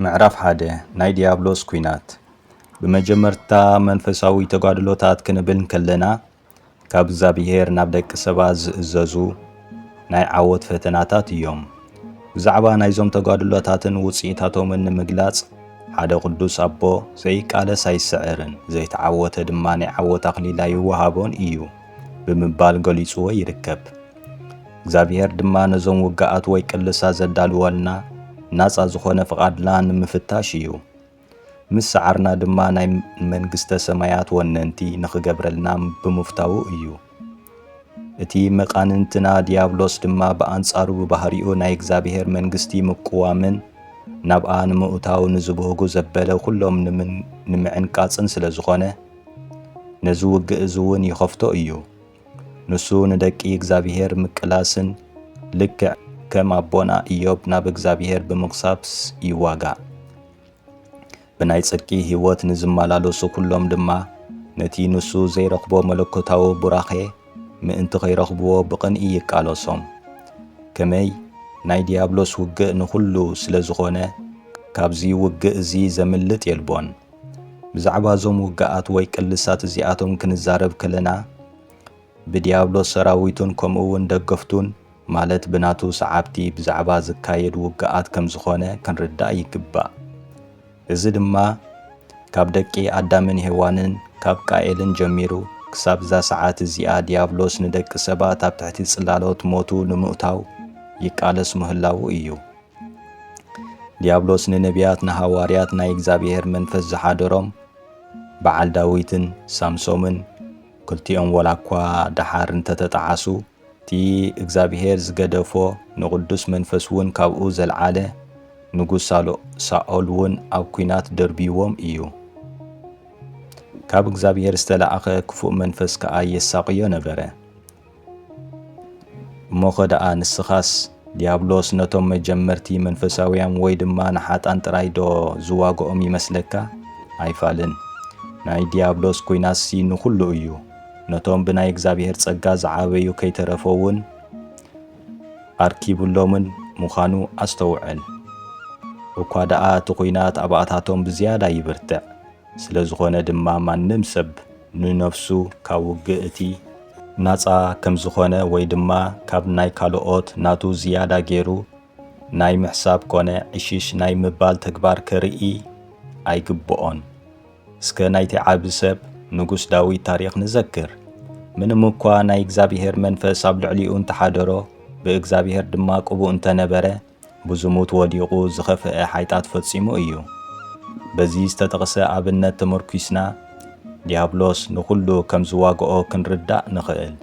ምዕራፍ ሓደ ናይ ድያብሎስ ኲናት ብመጀመርታ መንፈሳዊ ተጋድሎታት ክንብል እንከለና ካብ እግዚኣብሄር ናብ ደቂ ሰባት ዝእዘዙ ናይ ዓወት ፈተናታት እዮም። ብዛዕባ ናይዞም ተጋድሎታትን ውጽኢታቶምን ንምግላጽ ሓደ ቅዱስ ኣቦ ዘይቃለስ ኣይስዕርን ዘይተዓወተ ድማ ናይ ዓወት ኣኽሊል ኣይወሃቦን እዩ። ብምባል ገሊጽዎ ይርከብ። እግዚኣብሔር ድማ ነዞም ውግኣት ወይ ቅልሳ ዘዳልወልና ናጻ ዝኾነ ፍቓድና ንምፍታሽ እዩ። ምስ ሰዓርና ድማ ናይ መንግስተ ሰማያት ወነንቲ ንኽገብረልና ብምፍታዉ እዩ። እቲ መቃንንትና ዲያብሎስ ድማ ብኣንጻሩ ብባህሪኡ ናይ እግዚኣብሔር መንግስቲ ምቁዋምን ናብኣ ንምእታው ንዝብህጉ ዘበለ ኩሎም ንምዕንቃጽን ስለ ዝኾነ ነዚ ውግእ እዚ እውን ይኸፍቶ እዩ። ንሱ ንደቂ እግዚኣብሔር ምቅላስን ልክዕ ከም ኣቦና ኢዮብ ናብ እግዚኣብሔር ብምጉሳብስ ይዋጋእ። ብናይ ጽድቂ ሕይወት ንዝመላለሱ ኩሎም ድማ ነቲ ንሱ ዘይረኽቦ መለኮታዊ ቡራኼ ምእንቲ ኸይረኽብዎ ብቕንኢ ይቃለሶም። ከመይ ናይ ዲያብሎስ ውግእ ንኹሉ ስለ ዝኾነ ካብዚ ውግእ እዚ ዘምልጥ የልቦን። ብዛዕባ እዞም ውግኣት ወይ ቅልሳት እዚኣቶም ክንዛረብ ከለና፣ ብድያብሎስ ሰራዊቱን ከምኡውን ደገፍቱን፣ ማለት ብናቱ ሰዓብቲ ብዛዕባ ዝካየድ ውግኣት ከም ዝዀነ ክንርዳእ ይግባእ። እዚ ድማ ካብ ደቂ ኣዳምን ሄዋንን፣ ካብ ቃኤልን ጀሚሩ ክሳብ እዛ ሰዓት እዚኣ ድያብሎስ ንደቂ ሰባት ኣብ ትሕቲ ጽላሎት ሞቱ ንምእታው ይቃለስ ምህላዉ ኢዩ። ዲያብሎስ ንነቢያት ንሃዋርያት ናይ እግዚኣብሔር መንፈስ ዝሓደሮም በዓል ዳዊትን ሳምሶምን ክልቲኦም ወላ እኳ ደሓር እንተተጠዓሱ እቲ እግዚኣብሔር ዝገደፎ ንቕዱስ መንፈስ እውን ካብኡ ዘልዓለ ንጉስ ሳኦል እውን ኣብ ኲናት ደርብይዎም እዩ። ካብ እግዚኣብሔር ዝተላእኸ ክፉእ መንፈስ ከኣ የሳቕዮ ነበረ። እሞኸ ደኣ ንስኻስ ድያብሎስ ነቶም መጀመርቲ መንፈሳውያን ወይ ድማ ንሓጥኣን ጥራይ ዶ ዝዋግኦም ይመስለካ? ኣይፋልን። ናይ ድያብሎስ ኲናትሲ ንኹሉ እዩ። ነቶም ብናይ እግዚኣብሔር ጸጋ ዝዓበዩ ከይተረፈውን ኣርኪቡሎምን ምዃኑ ኣስተውዕል። እኳ ደኣ እቲ ኲናት ኣብኣታቶም ብዝያዳ ይብርትዕ። ስለዝኾነ ድማ ማንም ሰብ ንነፍሱ ካብ ውግእ እቲ። ናጻ ከምዝኾነ ወይ ድማ ካብ ናይ ካልኦት ናቱ ዝያዳ ጌሩ ናይ ምሕሳብ ኮነ ዕሽሽ ናይ ምባል ተግባር ከርኢ ኣይግብኦን። እስከ ናይቲ ዓቢ ሰብ ንጉስ ዳዊት ታሪኽ ንዘክር። ምንም እኳ ናይ እግዚኣብሄር መንፈስ ኣብ ልዕሊኡ እንተሓደሮ ብእግዚኣብሄር ድማ ቅቡእ እንተነበረ፣ ብዝሙት ወዲቑ ዝኸፍኤ ሓይጣት ፈጺሙ እዩ። በዚ ዝተጠቕሰ ኣብነት ተመርኲስና ዲያብሎስ ንኹሉ ከም ዝዋግኦ ክንርዳእ ንኽእል።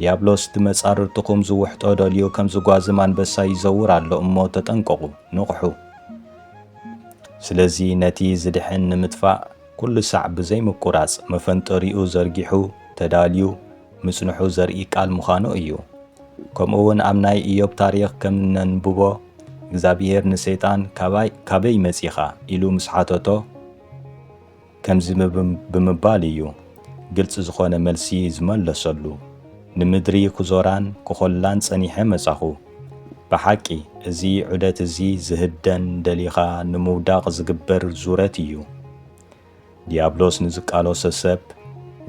ዲያብሎስ ብመጻርርትኹም ዝውሕጦ ደልዩ ከም ዝጓዝም ኣንበሳ ይዘውር ኣሎ እሞ ተጠንቀቑ፣ ንቕሑ። ስለዚ ነቲ ዝድሕን ንምጥፋእ ኩሉ ሳዕ ብዘይምቁራጽ መፈንጠሪኡ ዘርጊሑ ተዳልዩ ምጽንሑ ዘርኢ ቃል ምዃኑ እዩ። ከምኡ ውን ኣብ ናይ እዮብ ታሪኽ ከም እነንብቦ እግዛብሄር ንሰይጣን ካበይ መጺኻ ኢሉ ምስ ሓተቶ ከምዚ ብምባል እዩ ግልጺ ዝኾነ መልሲ ዝመለሰሉ ንምድሪ ክዞራን ክኾላን ጸኒሐ መጻኹ ብሓቂ እዚ ዑደት እዚ ዝህደን ደሊኻ ንምውዳቕ ዝግበር ዙረት እዩ ድያብሎስ ንዝቃሎሰ ሰብ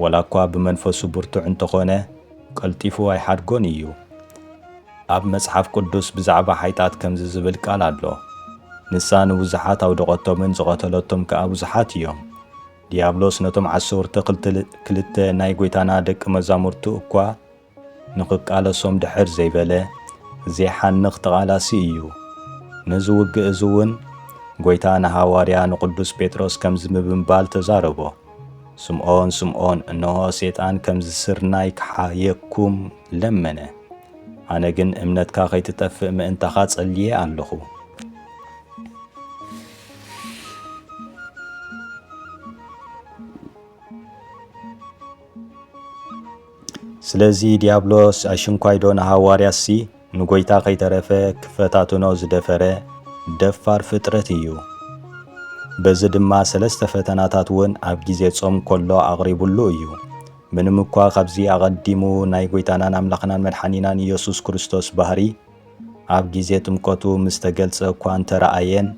ወላኳ ብመንፈሱ ብርቱዕ እንተኾነ ቀልጢፉ ኣይሓድጎን እዩ። ኣብ መጽሓፍ ቅዱስ ብዛዕባ ሓይጣት ከምዚ ዝብል ቃል ኣሎ ንሳ ንብዙሓት ኣውደቐቶምን ዝቐተለቶም ከኣ ብዙሓት እዮም። ድያብሎስ ነቶም ዓሰርተ ክልተ ናይ ጎይታና ደቂ መዛሙርቱ እኳ ንኽቃለሶም ድሕር ዘይበለ ዜሓንኽ ተቓላሲ እዩ። ነዚ ውግእ እዚ እውን ጐይታ ንሃዋርያ ንቕዱስ ጴጥሮስ ከምዚ ብምባል ተዛረቦ፣ ስምዖን ስምዖን እንሆ ሰይጣን ከምዚ ስርናይ ክሓየኩም ለመነ፣ ኣነ ግን እምነትካ ኸይትጠፍእ ምእንታኻ ጸልየ ኣለኹ። ስለዚ ዲያብሎስ ኣሽንኳይዶ ንሃዋርያትሲ ንጐይታ ከይተረፈ ክፈታትኖ ዝደፈረ ደፋር ፍጥረት እዩ። በዚ ድማ ሰለስተ ፈተናታት እውን ኣብ ግዜ ጾም ከሎ ኣቕሪቡሉ እዩ። ምንም እኳ ካብዚ ኣቐዲሙ ናይ ጐይታናን ኣምላኽናን መድሓኒናን ኢየሱስ ክርስቶስ ባህሪ፣ ኣብ ግዜ ጥምቀቱ ምስ ተገልጸ እኳ እንተ ረኣየን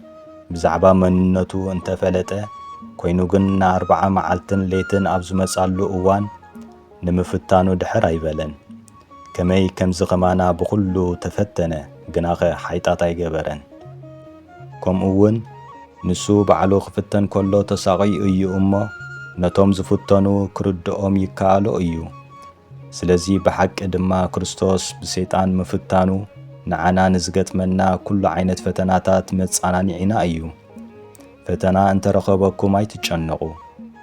ብዛዕባ መንነቱ እንተ ፈለጠ፣ ኰይኑ ግን ንኣርብዓ መዓልትን ለይትን ኣብ ዝመጻሉ እዋን ንምፍታኑ ድሕር ኣይበለን። ከመይ ከምዚ ከማና ብዅሉ ተፈተነ ግናኸ ሓይጣት ኣይገበረን። ከምኡውን ንሱ ባዕሉ ክፍተን ከሎ ተሳቕዩ እዩ እሞ ነቶም ዝፍተኑ ክርድኦም ይከኣሎ እዩ። ስለዚ ብሓቂ ድማ ክርስቶስ ብሰይጣን ምፍታኑ ንዓና ንዝገጥመና ኩሉ ዓይነት ፈተናታት መጻናኒዒና እዩ። ፈተና እንተ ረኸበኩም ኣይትጨነቑ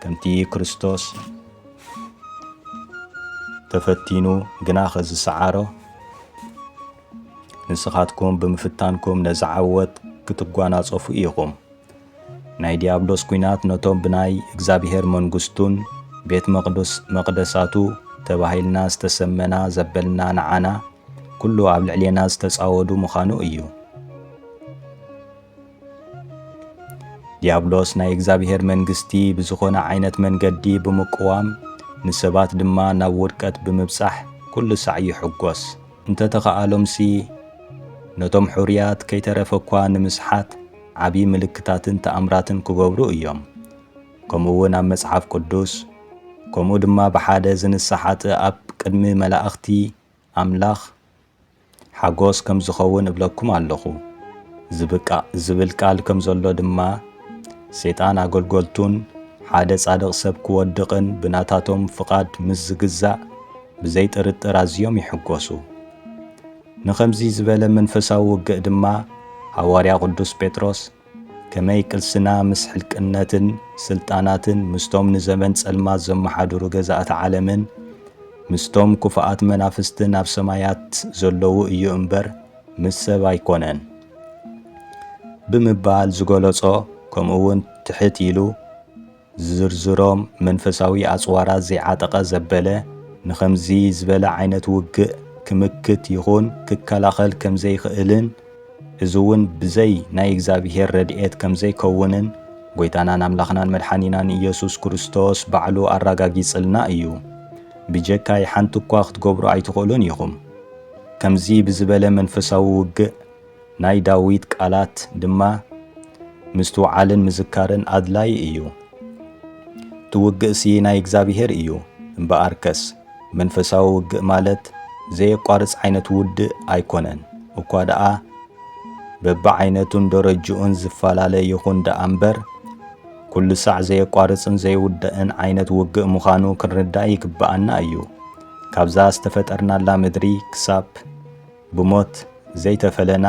ከምቲ ክርስቶስ ተፈቲኑ ግናኸ ዝሰዓሮ ንስኻትኩም ብምፍታንኩም ነዚ ዓወት ክትጓናጸፉ ኢኹም። ናይ ዲያብሎስ ኩናት ነቶም ብናይ እግዚኣብሔር መንጉስቱን ቤት መቅዱስ መቅደሳቱ ተባሂልና ዝተሰመና ዘበልና ንዓና ኩሉ ኣብ ልዕሌና ዝተጻወዱ ምኻኑ እዩ። ዲያብሎስ ናይ እግዚኣብሔር መንግስቲ ብዝኾነ ዓይነት መንገዲ ብምቅዋም ንሰባት ድማ ናብ ውድቀት ብምብጻሕ ኩሉ ሳዕ ይሕጎስ። እንተተኻኣሎምሲ ነቶም ሑሩያት ከይተረፈ እኳ ንምስሓት ዓቢ ምልክታትን ተኣምራትን ክገብሩ እዮም። ከምኡውን ኣብ መጽሓፍ ቅዱስ፣ ከምኡ ድማ ብሓደ ዝንሳ ሓጥእ ኣብ ቅድሚ መላእኽቲ ኣምላኽ ሓጎስ ከም ዝኸውን እብለኩም ኣለኹ። ዝብቃእ ዝብል ቃል ከም ዘሎ ድማ ሴጣን ኣገልገልቱን ሓደ ጻድቕ ሰብ ክወድቕን ብናታቶም ፍቓድ ምስ ዝግዛእ ብዘይጥርጥር ኣዝዮም ይሕጎሱ። ንኸምዚ ዝበለ መንፈሳዊ ውግእ ድማ ሃዋርያ ቅዱስ ጴጥሮስ ከመይ ቅልስና ምስ ሕልቅነትን ስልጣናትን ምስቶም ንዘመን ጸልማት ዘመሓድሩ ገዛእቲ ዓለምን ምስቶም ክፉኣት መናፍስትን ኣብ ሰማያት ዘለዉ እዩ እምበር ምስ ሰብ ኣይኮነን ብምባል ዝገለጾ ከምኡውን ትሕት ኢሉ ዝዝርዝሮም መንፈሳዊ ኣጽዋራት ዘይዓጠቐ ዘበለ፣ ንኸምዚ ዝበለ ዓይነት ውግእ ክምክት ይኹን ክከላኸል ከም ዘይክእልን፣ እዚውን ብዘይ ናይ እግዚኣብሔር ረድኤት ከም ዘይከውንን ጐይታናን ኣምላኽናን መድሓኒናን ኢየሱስ ክርስቶስ ባዕሉ ኣራጋጊጽልና እዩ። ብጀካይ ሓንቲ እኳ ክትገብሩ ኣይትኽእሉን ኢኹም። ከምዚ ብዝበለ መንፈሳዊ ውግእ፣ ናይ ዳዊት ቃላት ድማ ምስትውዓልን ምዝካርን ኣድላይ እዩ። እቲ ውግእሲ ናይ እግዚኣብሔር እዩ እምበኣርከስ መንፈሳዊ ውግእ ማለት ዘየቋርጽ ዓይነት ውድእ ኣይኮነን እኳ ደኣ በብዓይነቱን ደረጅኡን ዝፈላለ ይኹን ደኣ እምበር ኩሉ ሳዕ ዘየቋርጽን ዘይውዳእን ዓይነት ውግእ ምዃኑ ክንርዳእ ይግብኣና እዩ። ካብዛ ዝተፈጠርናላ ምድሪ ክሳብ ብሞት ዘይተፈለና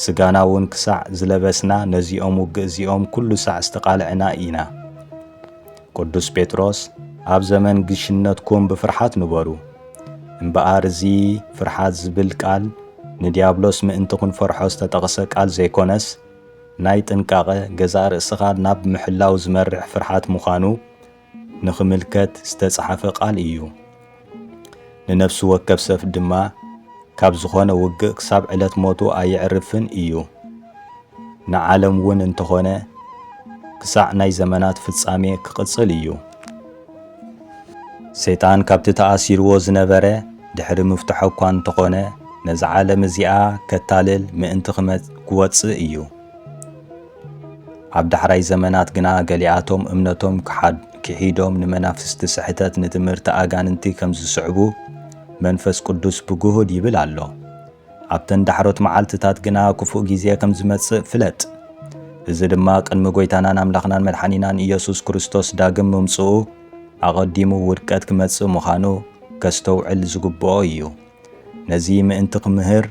ስጋና ውን ክሳዕ ዝለበስና ነዚኦም ውግእ እዚኦም ኩሉ ሳዕ ዝተቃልዕና ኢና። ቅዱስ ጴጥሮስ ኣብ ዘመን ግሽነትኩም ብፍርሓት ንበሩ እምበኣር እዚ ፍርሓት ዝብል ቃል ንዲያብሎስ ምእንቲ ክንፈርሖ ዝተጠቅሰ ቃል ዘይኮነስ ናይ ጥንቃቀ ገዛእ ርእስኻ ናብ ምሕላው ዝመርሕ ፍርሓት ምዃኑ ንኽምልከት ዝተጻሓፈ ቃል እዩ። ንነፍሲ ወከፍ ሰፍ ድማ ካብ ዝኾነ ውግእ ክሳብ ዕለት ሞቱ ኣየዕርፍን እዩ። ንዓለም እውን እንተኾነ ክሳዕ ናይ ዘመናት ፍጻሜ ክቕጽል እዩ። ሰይጣን ካብቲ ተኣሲርዎ ዝነበረ ድሕሪ ምፍትሖ እኳ እንተኾነ ነዛ ዓለም እዚኣ ከታልል ምእንቲ ክወጽእ እዩ። ኣብ ዳሕራይ ዘመናት ግና ገሊኣቶም እምነቶም ክሒዶም ንመናፍስቲ ስሕተት ንትምህርቲ ኣጋንንቲ ከም ዝስዕቡ መንፈስ ቅዱስ ብግሁድ ይብል ኣሎ። ኣብተን ዳሕሮት መዓልትታት ግና ክፉእ ግዜ ከም ዝመጽእ ፍለጥ። እዚ ድማ ቅድሚ ጐይታናን ኣምላኽናን መድሓኒናን ኢየሱስ ክርስቶስ ዳግም ምምጽኡ ኣቐዲሙ ውድቀት ክመጽእ ምዃኑ ከስተውዕል ዝግብኦ እዩ። ነዚ ምእንቲ ክምህር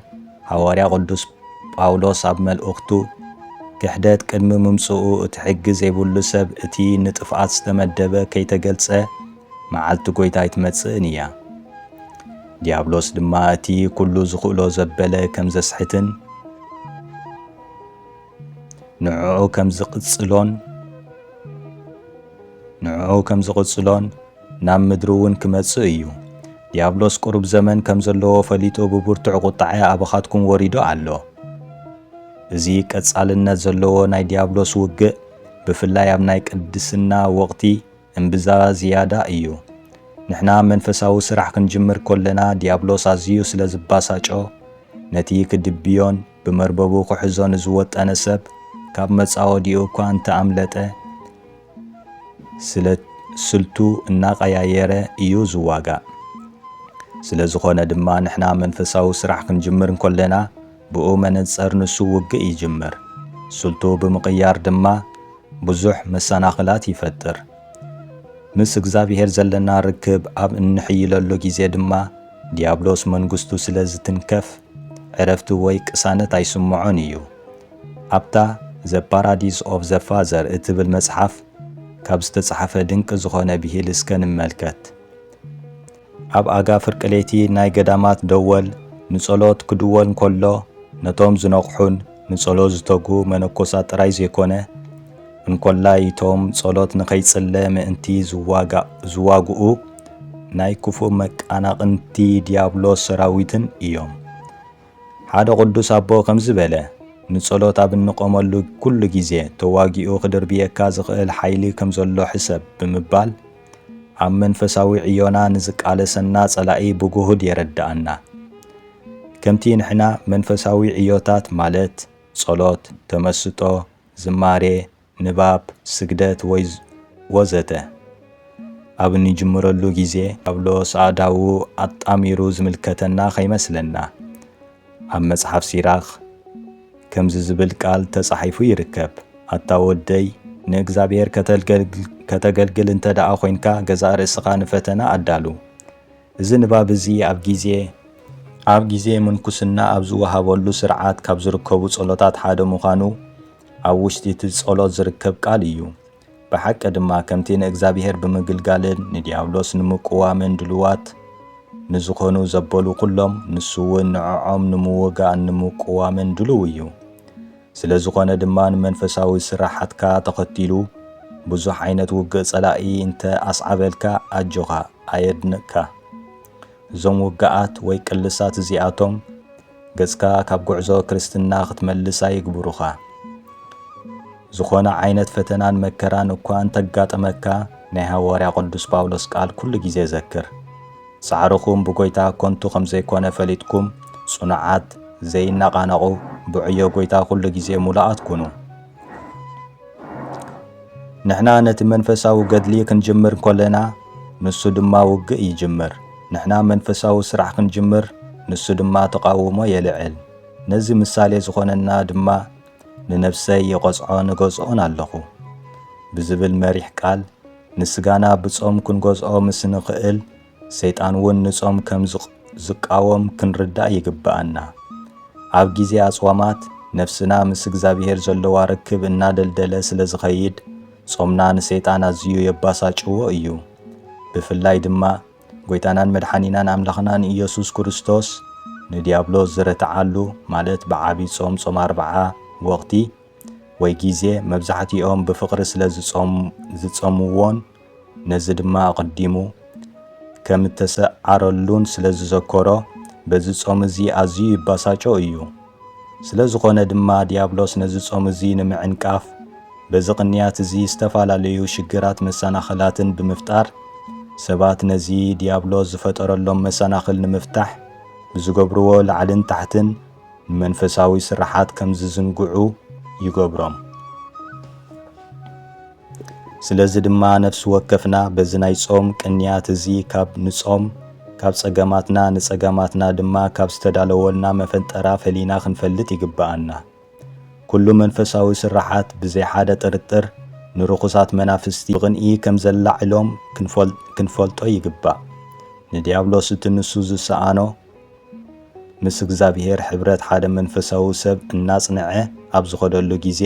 ሃዋርያ ቅዱስ ጳውሎስ ኣብ መልእኽቱ ክሕደት ቅድሚ ምምጽኡ እቲ ሕጊ ዘይብሉ ሰብ እቲ ንጥፍኣት ዝተመደበ ከይተገልጸ መዓልቲ ጎይታ ኣይትመጽእን እያ ዲያብሎስ ድማ እቲ ኩሉ ዝኽእሎ ዘበለ ከም ዘስሕትን ንዕዑ ከም ዝቕጽሎን ንዕዑ ከም ዝቕጽሎን ናብ ምድሪ እውን ክመጽእ እዩ። ዲያብሎስ ቅሩብ ዘመን ከም ዘለዎ ፈሊጡ ብብርቱዕ ቁጥዐ ኣባኻትኩም ወሪዱ ኣሎ። እዚ ቀጻልነት ዘለዎ ናይ ዲያብሎስ ውግእ ብፍላይ ኣብ ናይ ቅድስና ወቕቲ እምብዛ ዝያዳ እዩ። ንሕና መንፈሳዊ ስራሕ ክንጅምር ኮለና ዲያብሎስ ኣዝዩ ስለ ዝባሳጮ ነቲ ክድብዮን ብመርበቡ ክሕዞ ንዝወጠነ ሰብ ካብ መጻወዲኡ እኳ እንተ ኣምለጠ፣ ስለ ስልቱ እናቐያየረ ኢዩ ዝዋጋእ። ስለ ዝኾነ ድማ ንሕና መንፈሳዊ ስራሕ ክንጅምር እንኮለና ብኡ መነጸር ንሱ ውግእ ይጅምር። ስልቱ ብምቕያር ድማ ብዙሕ መሰናኽላት ይፈጥር። ምስ እግዝኣብሄር ዘለና ርክብ ኣብ እንሕይለሉ ግዜ ድማ ድያብሎስ መንግስቱ ስለ ዝትንከፍ፣ ዕረፍቲ ወይ ቅሳነት ኣይስምዖን እዩ። ኣብታ The Paradise of the Father እትብል መጽሓፍ ካብ ዝተጻሕፈ ድንቂ ዝኾነ ብሂል እስከ ንመልከት። ኣብ ኣጋ ፍርቂ ለይቲ ናይ ገዳማት ደወል ንጸሎት ክድወል እንከሎ ነቶም ዝነቕሑን ንጸሎት ዝተግሁ መነኮሳት ጥራይ ዘይኮነ፣ እንኮላይ እቶም ጸሎት ንኸይጽለ ምእንቲ ዝዋግኡ ናይ ክፉእ መቃናቕንቲ ዲያብሎስ ሰራዊትን እዮም። ሓደ ቅዱስ ኣቦ ከምዚ በለ፣ ንጸሎት ኣብ እንቆመሉ ኩሉ ግዜ ተዋጊኡ ክድርብየካ ዝኽእል ሓይሊ ከም ዘሎ ሕሰብ ብምባል ኣብ መንፈሳዊ ዕዮና ንዝቃለሰና ጸላኢ ብግሁድ የረድኣና። ከምቲ ንሕና መንፈሳዊ ዕዮታት ማለት ጸሎት፣ ተመስጦ፣ ዝማሬ፣ ንባብ፣ ስግደት ወይ ወዘተ ኣብ እንጅምረሉ ግዜ ዲያብሎስ ኣእዳዉ ኣጣሚሩ ዝምልከተና ከይመስለና። ኣብ መጽሓፍ ሲራክ ከምዚ ዝብል ቃል ተጻሒፉ ይርከብ፣ ኣታ ወደይ ንእግዝኣብሄር ከተገልግል እንተደኣ ኮይንካ ገዛእ ርእስኻ ንፈተና ኣዳሉ። እዚ ንባብ እዚ ኣብ ግዜ ኣብ ግዜ ምንኩስና ኣብ ዝወሃበሉ ስርዓት ካብ ዝርከቡ ጸሎታት ሓደ ምዃኑ ኣብ ውሽጢ እቲ ጸሎት ዝርከብ ቃል እዩ። ብሓቂ ድማ ከምቲ ንእግዚኣብሔር ብምግልጋልን ንዲያብሎስ ንምቅዋምን ድሉዋት ንዝኾኑ ዘበሉ ኩሎም ንሱውን ንዖዖም ንምውጋእን ንምቅዋምን ድሉው እዩ። ስለ ዝኾነ ድማ ንመንፈሳዊ ስራሓትካ ተኸቲሉ ብዙሕ ዓይነት ውግእ ጸላኢ እንተ ኣስዓበልካ ኣጆኻ ኣየድንቅካ እዞም ውግኣት ወይ ቅልሳት እዚኣቶም ገጽካ ካብ ጉዕዞ ክርስትና ክትመልስ ኣይግብሩኻ። ዝኾነ ዓይነት ፈተናን መከራን እኳ እንተጋጠመካ ናይ ሃዋርያ ቅዱስ ጳውሎስ ቃል ኩሉ ግዜ ዘክር። ጻዕርኹም ብጎይታ ኮንቱ ከም ዘይኮነ ፈሊጥኩም ጽኑዓት ዘይናቓነቑ ብዕዮ ጎይታ ኩሉ ግዜ ሙሉኣት ኩኑ። ንሕና ነቲ መንፈሳዊ ገድሊ ክንጅምር ኮለና ንሱ ድማ ውግእ ይጅምር። ንሕና መንፈሳዊ ስራሕ ክንጅምር ንሱ ድማ ተቓውሞ የልዕል። ነዚ ምሳሌ ዝኾነና ድማ ንነፍሰይ ይቐጽዖን እገዝኦን ኣለኹ ብዝብል መሪሕ ቃል ንስጋና ብጾም ክንገዝኦ ምስ እንኽእል ሰይጣን እውን ንጾም ከም ዝቃወም ክንርዳእ ይግብኣና። ኣብ ጊዜ ኣጽዋማት ነፍስና ምስ እግዚኣብሔር ዘለዋ ርክብ እናደልደለ ስለ ዝኸይድ፣ ጾምና ንሰይጣን ኣዝዩ የባሳጭዎ እዩ። ብፍላይ ድማ ጎይታናን መድሓኒናን ኣምላኽናን ኢየሱስ ክርስቶስ ንድያብሎስ ዝረትዓሉ ማለት ብዓቢ ጾም ጾም ኣርብዓ ወቕቲ ወይ ጊዜ መብዛሕቲኦም ብፍቕሪ ስለ ዝጸምዎን ነዚ ድማ ኣቐዲሙ ከምእተሰዓረሉን ስለ ዝዘከሮ በዚ ጾም እዚ ኣዝዩ ይባሳጮ እዩ። ስለ ዝኾነ ድማ ድያብሎስ ነዚ ጾም እዚ ንምዕንቃፍ በዚ ቅንያት እዚ ዝተፋላለዩ ሽግራት መሳናኸላትን ብምፍጣር ሰባት ነዚ ድያብሎስ ዝፈጠረሎም መሳናኽል ንምፍታሕ ብዝገብርዎ ላዕልን ታሕትን ንመንፈሳዊ ስርሓት ከምዝዝንግዑ ይገብሮም። ስለዚ ድማ ነፍሲ ወከፍና በዚ ናይ ጾም ቅንያት እዚ ካብ ንጾም ካብ ጸገማትና ንጸገማትና ድማ ካብ ዝተዳለወልና መፈንጠራ ፈሊና ክንፈልጥ ይግብኣና። ኩሉ መንፈሳዊ ስርሓት ብዘይ ሓደ ጥርጥር ንርኹሳት መናፍስቲ ብቕንኢ ከም ዘላዕሎም ክንፈልጦ ይግባእ። ንድያብሎስ እቲ ንሱ ዝሰኣኖ ምስ እግዚኣብሔር ሕብረት ሓደ መንፈሳዊ ሰብ እናጽንዐ ኣብ ዝኸደሉ ጊዜ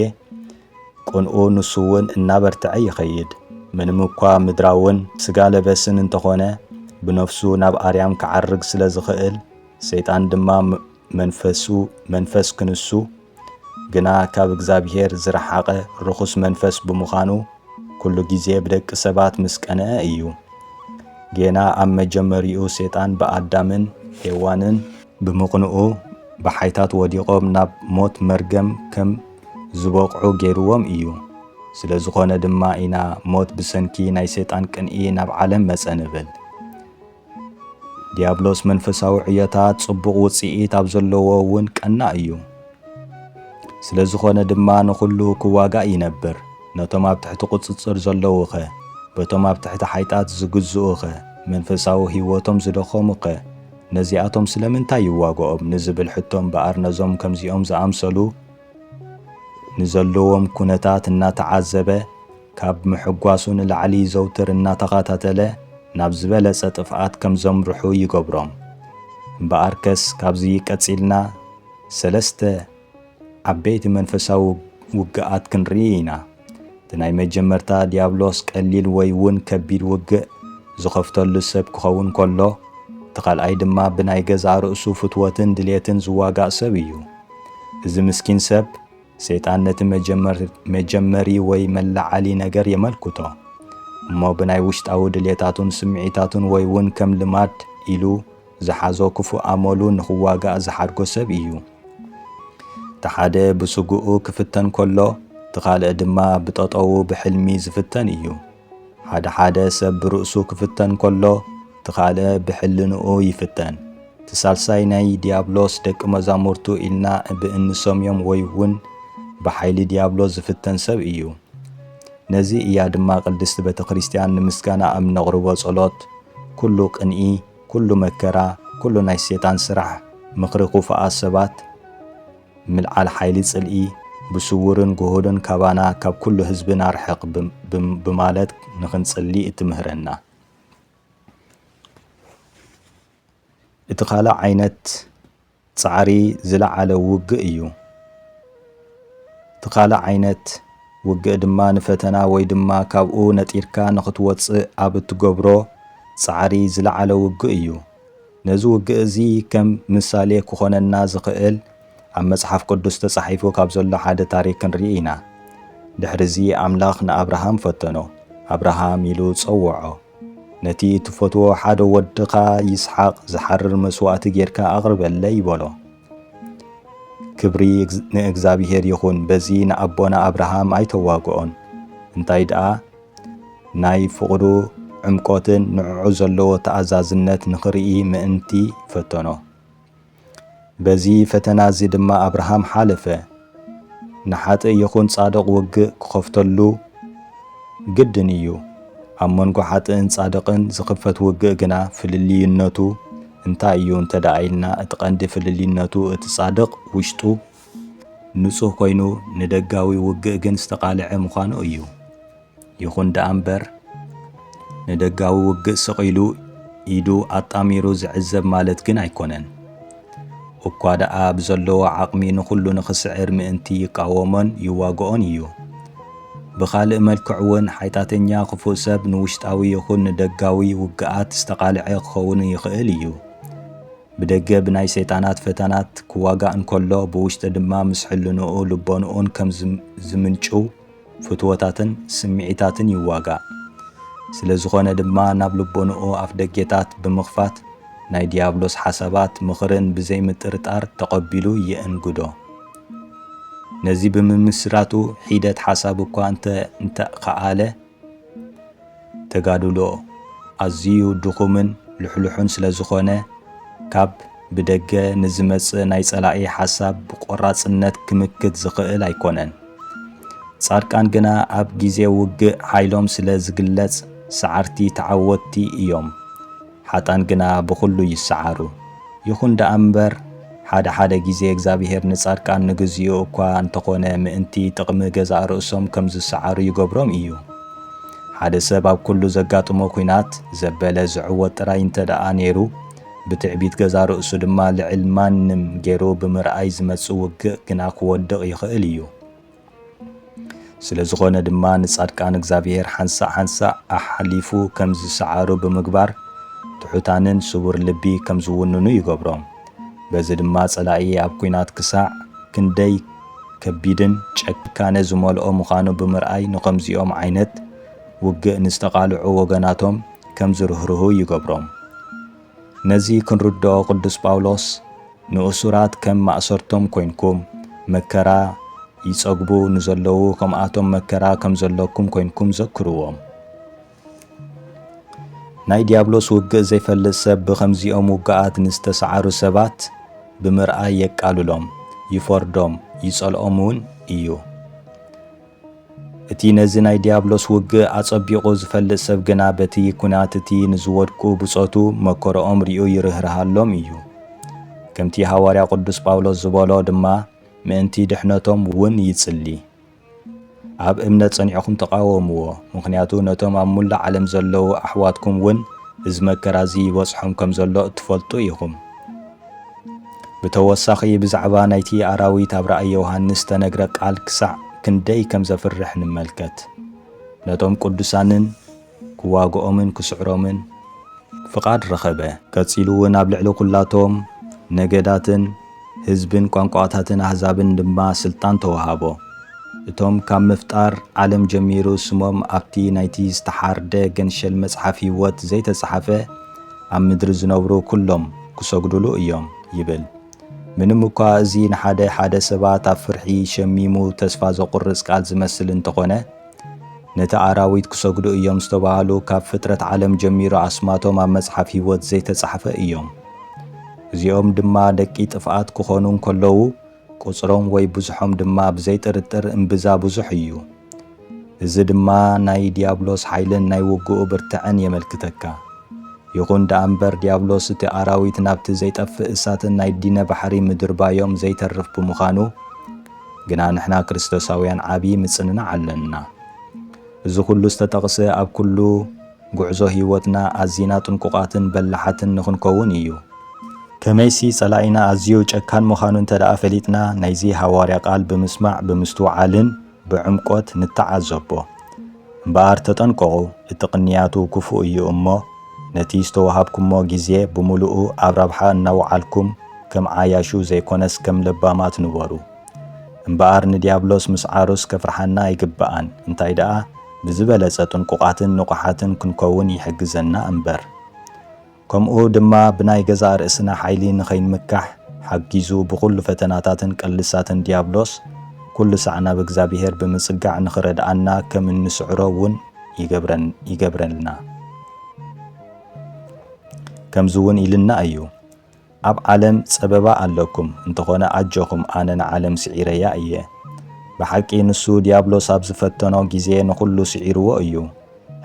ቅንኡ ንሱውን እናበርትዐ ይኸይድ። ምንም እኳ ምድራውን ስጋ ለበስን እንተኾነ ብነፍሱ ናብ ኣርያም ክዓርግ ስለ ዝኸእል ሰይጣን ድማ መንፈሱ መንፈስ ክንሱ ግና ካብ እግዚኣብሔር ዝረሓቐ ርኹስ መንፈስ ብምዃኑ ኩሉ ጊዜ ብደቂ ሰባት ምስ ቀንዐ እዩ። ጌና ኣብ መጀመሪኡ ሴጣን ብኣዳምን ሄዋንን ብምቕንኡ ብሓይታት ወዲቖም ናብ ሞት መርገም ከም ዝበቕዑ ገይርዎም እዩ። ስለ ዝኾነ ድማ ኢና ሞት ብሰንኪ ናይ ሴጣን ቅንኢ ናብ ዓለም መጸ ንብል። ዲያብሎስ መንፈሳዊ ዕዮታት ጽቡቕ ውጽኢት ኣብ ዘለዎ እውን ቀናእ እዩ። ስለ ዝኾነ ድማ ንኹሉ ክዋጋእ ይነብር። ነቶም ኣብ ትሕቲ ቁጽጽር ዘለዉኸ? በቶም ኣብ ትሕቲ ሓይጣት ዝግዝኡኸ? መንፈሳዊ ህይወቶም ዝደኸሙኸ? ነዚኣቶም ስለምንታይ ይዋግኦም ንዝብል ሕቶ እምበኣር ነዞም ከምዚኦም ዝኣምሰሉ ንዘለዎም ኩነታት እናተዓዘበ ካብ ምሕጓሱ ንላዕሊ ዘውትር እናተኸታተለ ናብ ዝበለጸ ጥፍኣት ከም ዘምርሑ ይገብሮም። እምበኣርከስ ካብዚ ቀጺልና ሰለስተ ዓበይቲ መንፈሳዊ ውግኣት ክንርኢ ኢና። እቲ ናይ መጀመርታ ዲያብሎስ ቀሊል ወይ ውን ከቢድ ውግእ ዝኸፍተሉ ሰብ ክኸውን ከሎ፣ እቲ ካልኣይ ድማ ብናይ ገዛእ ርእሱ ፍትወትን ድሌትን ዝዋጋእ ሰብ እዩ። እዚ ምስኪን ሰብ፣ ሰይጣን ነቲ መጀመሪ ወይ መለዓሊ ነገር የመልክቶ፣ እሞ ብናይ ውሽጣዊ ድሌታቱን ስምዒታቱን ወይ ውን ከም ልማድ ኢሉ፣ ዝሓዞ ክፉእ ኣመሉ ንኽዋጋእ ዝሓድጎ ሰብ ኢዩ። እቲ ሓደ ብስግኡ ክፍተን ከሎ፣ እቲ ካልእ ድማ ብጠጠዉ ብሕልሚ ዝፍተን ኢዩ። ሓደ ሓደ ሰብ ብርእሱ ክፍተን ከሎ፣ እቲ ካልእ ብሕልንኡ ይፍተን። እቲ ሳልሳይ ናይ ድያብሎስ ደቂ መዛሙርቱ ኢልና እብ እንሰምዮም ወይ ውን ብሓይሊ ድያብሎስ ዝፍተን ሰብ ኢዩ። ነዚ ኢያ ድማ ቅድስቲ ቤተክርስትያን ንምስጋናኣ እብ ነቕርቦ ጸሎት ኩሉ ቅንኢ፣ ኩሉ መከራ ኩሉ ናይ ሴጣን ስራሕ ምኽሪ ኩፋኣት ሰባት ምልዓል ሓይሊ ጽልኢ ብሱዉርን ጉሁልን ካባና ካብ ኩሉ ህዝብን ኣርሕቅ ብማለት ንኽንጽሊ እትምህረና እቲ ካልእ ዓይነት ጻዕሪ ዝለዓለ ውግእ እዩ። እቲ ካልእ ዓይነት ውግእ ድማ ንፈተና ወይ ድማ ካብኡ ነጢርካ ንኽትወጽእ ኣብ እትገብሮ ጻዕሪ ዝለዓለ ውግእ እዩ። ነዚ ውግእ እዚ ከም ምሳሌ ክኾነና ዝኽእል ኣብ መጽሓፍ ቅዱስ ተጻሒፉ ካብ ዘሎ ሓደ ታሪክ ክንርኢ ኢና። ድሕርዚ ኣምላኽ ንኣብርሃም ፈተኖ። ኣብርሃም ኢሉ ጸውዖ። ነቲ እትፈትዎ ሓደ ወድኻ ይስሓቅ ዝሓርር መስዋእቲ ጌርካ ኣቕርበለይ በሎ። ክብሪ ንእግዚኣብሔር ይኹን በዚ ንኣቦና ኣብርሃም ኣይተዋግኦን እንታይ ደኣ ናይ ፍቕዱ ዕምቆትን ንዕዑ ዘለዎ ተኣዛዝነት ንኽርኢ ምእንቲ ፈተኖ። በዚ ፈተና እዚ ድማ ኣብርሃም ሓለፈ። ንሓጥእ ይኹን ጻድቕ ውግእ ክኸፍተሉ ግድን እዩ። ኣብ መንጎ ሓጥእን ጻድቕን ዝኽፈት ውግእ ግና ፍልልይነቱ እንታይ እዩ እንተድኣ ኢልና እቲ ቀንዲ ፍልልይነቱ እቲ ጻድቕ ውሽጡ ንጹህ ኮይኑ ንደጋዊ ውግእ ግን ዝተቓልዐ ምዃኑ እዩ። ይኹን ደኣ እምበር ንደጋዊ ውግእ ስቕ ኢሉ ኢዱ ኣጣሚሩ ዝዕዘብ ማለት ግን ኣይኮነን። እኳ ደኣ ብዘለዎ ዓቕሚ ንኹሉ ንኽስዕር ምእንቲ ይቃወሞን ይዋግኦን እዩ። ብኻልእ መልክዕ እውን ሓይጣተኛ ክፉእ ሰብ ንውሽጣዊ ይኹን ንደጋዊ ውግኣት ዝተቓልዐ ክኸውን ይኽእል እዩ። ብደገ ብናይ ሰይጣናት ፈተናት ክዋጋእ እንከሎ ብውሽጢ ድማ ምስ ሕልንኡ ልቦንኡን ከም ዝምንጭው ፍትወታትን ስምዒታትን ይዋጋእ። ስለ ዝኾነ ድማ ናብ ልቦንኡ ኣፍደጌታት ብምኽፋት ናይ ዲያብሎስ ሓሳባት ምኽርን ብዘይ ምጥርጣር ተቐቢሉ ይእንግዶ። ነዚ ብምምስራቱ ሒደት ሓሳብ እኳ እንተ እንተኸኣለ፣ ተጋድሎ ኣዝዩ ድኹምን ልሕሉሕን ስለዝኾነ፣ ካብ ብደገ ንዝመጽእ ናይ ጸላኢ ሓሳብ ብቆራጽነት ክምክት ዝኽእል ኣይኮነን። ጻድቃን ግና ኣብ ግዜ ውግእ ሓይሎም ስለ ዝግለጽ፣ ሰዓርቲ ተዓወትቲ እዮም። ሓጥኣን ግና ብዅሉ ይሰዓሩ። ይኹን ደኣ እምበር፣ ሓደ ሓደ ግዜ እግዚኣብሄር ንጻድቃን ንግዜኡ እኳ እንተ ዀነ ምእንቲ ጥቕሚ ገዛእ ርእሶም ከም ዝሰዓሩ ይገብሮም እዩ። ሓደ ሰብ ኣብ ኵሉ ዘጋጥሞ ኲናት ዘበለ ዝዕወት ጥራይ እንተ ደኣ ነይሩ፣ ብትዕቢት ገዛእ ርእሱ ድማ ልዕል ማንም ገይሩ ብምርኣይ ዝመጽእ ውግእ ግና ክወድቕ ይኽእል እዩ። ስለዝኾነ ድማ ንጻድቃን እግዚኣብሔር ሓንሳእ ሓንሳእ ኣሓሊፉ ከም ዝሰዓሩ ብምግባር ትሑታንን ስቡር ልቢ ከም ዝውንኑ ይገብሮም። በዚ ድማ ጸላኢ ኣብ ኲናት ክሳዕ ክንደይ ከቢድን ጨካነ ዝመልኦ ምዃኑ ብምርኣይ ንኸምዚኦም ዓይነት ውግእ ንዝተቓልዑ ወገናቶም ከም ዝርህርሁ ይገብሮም። ነዚ ክንርድኦ ቅዱስ ጳውሎስ ንእሱራት ከም ማእሰርቶም ኮይንኩም መከራ ይጸግቡ ንዘለዉ ከምኣቶም መከራ ከም ዘለኩም ኮይንኩም ዘክርዎም። ናይ ዲያብሎስ ውግእ ዘይፈልጥ ሰብ ብኸምዚኦም ውግኣት ንዝተሰዓሩ ሰባት ብምርኣይ የቃልሎም፣ ይፈርዶም፣ ይጸልኦም እውን እዩ። እቲ ነዚ ናይ ዲያብሎስ ውግእ ኣጸቢቑ ዝፈልጥ ሰብ ግና በቲ ኵናት እቲ ንዝወድቁ ብጾቱ መከርኦም ሪኡ ይርህርሃሎም እዩ። ከምቲ ሃዋርያ ቅዱስ ጳውሎስ ዝበሎ ድማ ምእንቲ ድሕነቶም ውን ይጽሊ። ኣብ እምነት ጸኒዕኩም ተቓወምዎ፣ ምኽንያቱ ነቶም ኣብ ሙላእ ዓለም ዘለዉ ኣሕዋትኩም ውን እዚ መከራ እዚ ይበጽሖም ከም ዘሎ እትፈልጡ ኢኹም። ብተወሳኺ ብዛዕባ ናይቲ ኣራዊት ኣብ ራእይ ዮሃንስ ዝተነግረ ቃል ክሳዕ ክንደይ ከም ዘፍርሕ ንመልከት። ነቶም ቅዱሳንን ክዋግኦምን ክስዕሮምን ፍቓድ ረኸበ። ቀጺሉ እውን ኣብ ልዕሊ ኵላቶም ነገዳትን ህዝብን ቋንቋታትን ኣህዛብን ድማ ስልጣን ተወሃቦ። እቶም ካብ ምፍጣር ዓለም ጀሚሩ ስሞም ኣብቲ ናይቲ ዝተሓርደ ገንሸል መጽሓፍ ህይወት ዘይተጻሕፈ፣ ኣብ ምድሪ ዝነብሩ ኩሎም ክሰግዱሉ እዮም ይብል። ምንም እኳ እዚ ንሓደ ሓደ ሰባት ኣብ ፍርሒ ሸሚሙ ተስፋ ዘቑርጽ ቃል ዝመስል እንተኾነ፣ ነቲ ኣራዊት ክሰግዱ እዮም ዝተባህሉ ካብ ፍጥረት ዓለም ጀሚሩ ኣስማቶም ኣብ መጽሓፍ ህይወት ዘይተጻሕፈ እዮም። እዚኦም ድማ ደቂ ጥፍኣት ክኾኑ እንከለዉ፣ ቁጽሮም ወይ ብዝሖም ድማ ብዘይ ጥርጥር እምብዛ ብዙሕ እዩ። እዚ ድማ ናይ ድያብሎስ ሓይልን ናይ ውግኡ ብርትዐን የመልክተካ። ይኹን ደኣ እምበር ድያብሎስ እቲ ኣራዊት ናብቲ ዘይጠፍእ እሳትን ናይ ዲነ ባሕሪ ምድርባዮም ዘይተርፍ ብምዃኑ ግና ንሕና ክርስቶሳውያን ዓቢ ምጽንናዕ ኣለና። እዚ ኩሉ ዝተጠቕሰ ኣብ ኩሉ ጉዕዞ ህይወትና ኣዚና ጥንቁቓትን በላሓትን ንኽንከውን ኢዩ። ከመይሲ ጸላኢና ኣዝዩ ጨካን ምዃኑ እንተድኣ ፈሊጥና ናይዚ ሃዋርያ ቃል ብምስማዕ ብምስትውዓልን ብዕምቆት ንተዓዘቦ። እምበኣር ተጠንቀቑ እቲ ቅንያቱ ክፉእ ኢዩ እሞ ነቲ ዝተዋሃብኩሞ ግዜ ብምሉኡ ኣብ ረብሓ እናውዓልኩም ከም ዓያሹ ዘይኮነስ ከም ለባማት ንበሩ። እምበኣር ንድያብሎስ ምስዓሩስ ከፍርሓና ኣይግበኣን፣ እንታይ ደኣ ብዝበለጸ ጥንቁቓትን ንቑሓትን ክንከውን ይሕግዘና እምበር። ከምኡ ድማ ብናይ ገዛእ ርእስና ሓይሊ ንኸይንምካሕ ሓጊዙ ብኹሉ ፈተናታትን ቅልሳትን ድያብሎስ ኩሉ ሳዕ ናብ እግዚኣብሔር ብምጽጋዕ ንኽረድኣና ከም እንስዕሮ እውን ይገብረልና። ከምዚ እውን ኢልና እዩ። ኣብ ዓለም ጸበባ ኣለኩም እንተኾነ ኣጆኹም ኣነ ንዓለም ስዒረያ እየ። ብሓቂ ንሱ ድያብሎስ ኣብ ዝፈተኖ ግዜ ንኹሉ ስዒርዎ እዩ።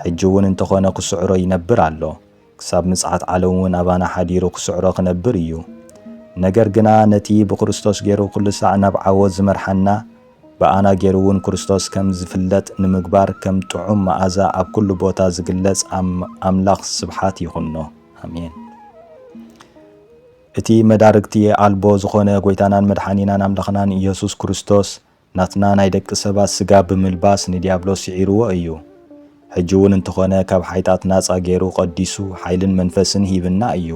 ሕጂ እውን እንተኾነ ክስዕሮ ይነብር ኣሎ። ክሳብ ምጽኣት ዓለም እውን ኣባና ሓዲሩ ክስዕሮ ክነብር እዩ። ነገር ግና ነቲ ብክርስቶስ ገይሩ ኩሉሳዕ ናብ ዓወት ዝመርሓና ብኣና ገይሩ እውን ክርስቶስ ከም ዝፍለጥ ንምግባር ከም ጥዑም መኣዛ ኣብ ኩሉ ቦታ ዝግለጽ ኣምላኽ ስብሓት ይኹኖ። ኣሜን። እቲ መዳርግቲ ኣልቦ ዝኾነ ጎይታናን መድሓኒናን ኣምላኽናን ኢየሱስ ክርስቶስ ናትና ናይ ደቂ ሰባት ስጋ ብምልባስ ንዲያብሎስ ስዒርዎ እዩ። ሕጂ እውን እንተኾነ ካብ ሓይጣት ናጻ ገይሩ ቀዲሱ ሓይልን መንፈስን ሂብና እዩ።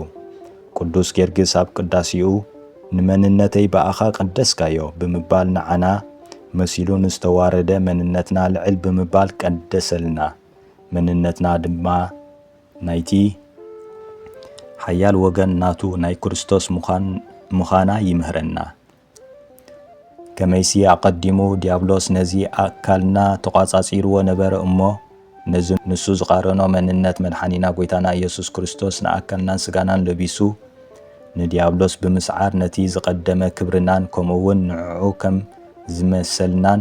ቅዱስ ጌርግስ ኣብ ቅዳሴኡ ንመንነተይ ብኣኻ ቀደስካዮ ብምባል ንዓና መሲሉ ንዝተዋረደ መንነትና ልዕል ብምባል ቀደሰልና። መንነትና ድማ ናይቲ ሓያል ወገን ናቱ ናይ ክርስቶስ ምዃና ይምህረና። ከመይሲ ኣቐዲሙ ዲያብሎስ ነዚ ኣካልና ተቋጻጺርዎ ነበረ እሞ ነዚ ንሱ ዝቓረኖ መንነት መድሓኒና ጎይታና ኢየሱስ ክርስቶስ ንኣካልናን ስጋናን ለቢሱ ንዲያብሎስ ብምስዓር ነቲ ዝቐደመ ክብርናን ከምኡውን ንዕዑ ከም ዝመሰልናን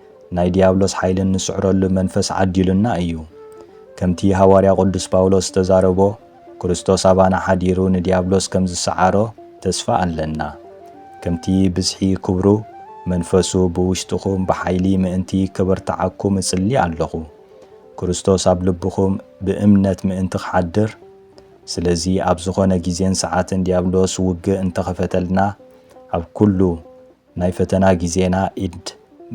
ናይ ዲያብሎስ ሓይሊ እንስዕረሉ መንፈስ ዓዲሉና እዩ። ከምቲ ሃዋርያ ቅዱስ ጳውሎስ ዝተዛረቦ ክርስቶስ ኣባና ሓዲሩ ንዲያብሎስ ከም ዝሰዓሮ ተስፋ ኣለና። ከምቲ ብዝሒ ክብሩ መንፈሱ ብውሽጥኹም ብሓይሊ ምእንቲ ከበርትዓኩም እጽሊ ኣለኹ። ክርስቶስ ኣብ ልብኹም ብእምነት ምእንቲ ክሓድር ስለዚ ኣብ ዝኾነ ግዜን ሰዓትን ዲያብሎስ ውግእ እንተኸፈተልና ኣብ ኩሉ ናይ ፈተና ግዜና ኢድ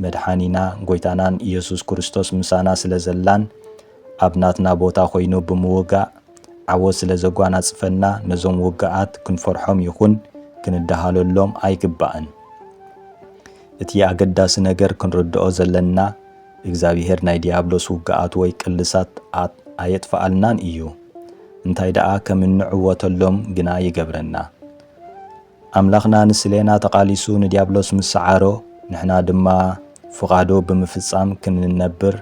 መድሓኒና ጎይታናን ኢየሱስ ክርስቶስ ምሳና ስለ ዘላን ኣብ ናትና ቦታ ኮይኑ ብምውጋእ ዓወት ስለ ዘጓናጽፈና ነዞም ውግኣት ክንፈርሖም ይኹን ክንደሃለሎም ኣይግባእን። እቲ ኣገዳሲ ነገር ክንርድኦ ዘለና እግዚኣብሄር ናይ ዲያብሎስ ውግኣት ወይ ቅልሳት ኣየጥፍኣልናን እዩ። እንታይ ደኣ ከም እንዕወተሎም ግና ይገብረና። ኣምላኽና ንስሌና ተቓሊሱ ንዲያብሎስ ምስ ሰዓሮ፣ ንሕና ድማ ፍቓዱ ብምፍጻም ክንነብር፣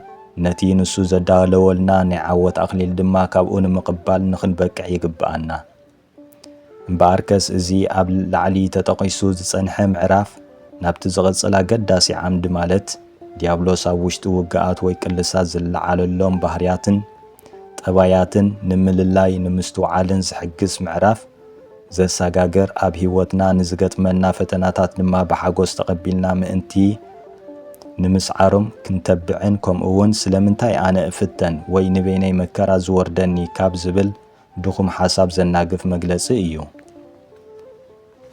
ነቲ ንሱ ዘዳለወልና ናይ ዓወት ኣኽሊል ድማ ካብኡ ንምቕባል ንኽንበቅዕ ይግብኣና። እምበኣርከስ እዚ ኣብ ላዕሊ ተጠቒሱ ዝጸንሐ ምዕራፍ ናብቲ ዝቕጽል ኣገዳሲ ዓምዲ ማለት ዲያብሎስ ኣብ ውሽጢ ውግኣት ወይ ቅልሳት ዝለዓለሎም ባህርያትን ጠባያትን ንምልላይ ንምስትውዓልን ዝሕግዝ ምዕራፍ ዘሳጋገር ኣብ ሕይወትና ንዝገጥመና ፈተናታት ድማ ብሓጎስ ተቐቢልና ምእንቲ ንምስዓሮም ክንተብዕን ከምኡውን ስለምንታይ ኣነ እፍተን ወይ ንበይነይ መከራ ዝወርደኒ ካብ ዝብል ድኹም ሓሳብ ዘናግፍ መግለጺ እዩ።